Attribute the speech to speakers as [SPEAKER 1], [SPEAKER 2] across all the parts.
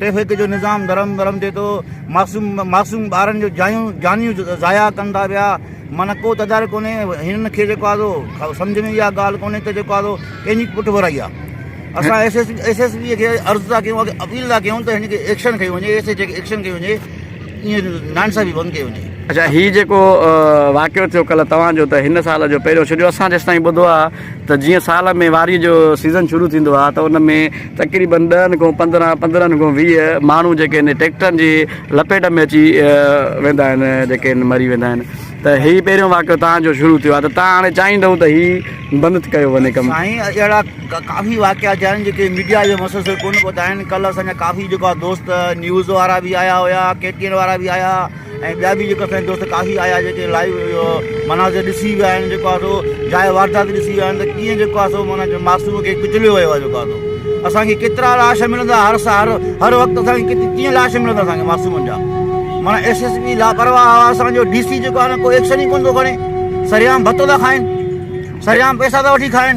[SPEAKER 1] Traffic جو نظام درهم برهم ٿئي ٿو معصوم معصوم ٻارن جو جايون جانيون ضايع ڪن ٿا پيا معنيٰ ڪو تدارڪ ڪونهي هنن کي جيڪو آزو سمجھ ۾ اها ڳالهه ڪونهي ته جيڪو آزو ڪنهنجي پٺ ورائي آ اسان S S S S B کي عرض ٿا ڪيون اپيل ٿا ڪيون ته هن کي ايڪشن کي وڃي ايس ايس جي ايڪشن کي وڃي ائين نانسا بي بند کي وڃي اچا هي جيڪو
[SPEAKER 2] واقعو ٿيو ڪل توهان جو ته هن سال جو پهريون ڇڏيو اسان جيستائين ٻڌو آ ته جيئن سال ۾ واريء جو سيزن شروع ٿيندو آهي ته ان ۾ تقريبن ڏهن کان پندرهن، پندرهن کان ويهه ماڻهو جيڪي آهن ٽريڪٽرن جي لپيٽ ۾ اچي ويندا آهن جيڪي آهن مري ويندا آهن ته هي پهريون واقعو توهان جو شروع ٿيو آهي ته توهان هاڻي چاهيندؤ ته هي بند ڪيو وڃي ڪم. سائين اهڙا
[SPEAKER 1] ڪافي واقعا ٿيا آهن جيڪي ميڊيا جي مسلسل ڪونه پهتا آهن ڪل اسان جا ڪافي جيڪو آهي دوست نيوز وارا به آيا هيا ڪي ٽي اين وارا به آيا ۽ ٻيا به جيڪو اسانجا دوست ڪافي آيا جيڪي لائيو اهو مناظر ڏسي ويا آهن جيڪو آهي سو جاء واردات ڏسي ويا آهن ته ڪيئن جيڪو آهي سو معنيٰ معصوم کي ڪچليو ويو آهي جيڪو آهي سو اسانکي ڪيترا لاش ملندا هر سال هر وقت اسانکي ڪيئن لاش ملندا اسانکي معصومن جا معنيٰ ايس ايس پي لاپرواهه هئا اسانجو ڊي سي جيڪو آهي نه ڪو ايڪشن ئي ڪونه ٿو کڻي سريام ڀتو ٿا کائن سريام پئسا ٿا وٺي کائن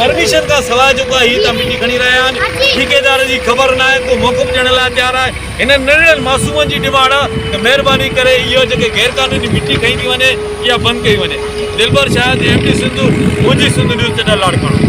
[SPEAKER 3] پرميشن کان سواء جيڪو آهي هي ته مٽي کڻي رهيا آهن ٺيڪيدار جي خبر نه آهي ڪو موقف ڏيڻ لاء تيار آهي هنن ننڍڙن معصومن جي ڊمانڊ آهي ته مهرباني ڪري اهو جيڪي غير قانوني مٽي کنئي ٿي وڃي اها بند ڪئي وڃي دلبر شاهد ايم ڊي سنڌ منهنجي سنڌ نيوز چٽا لاڙڪاڻو.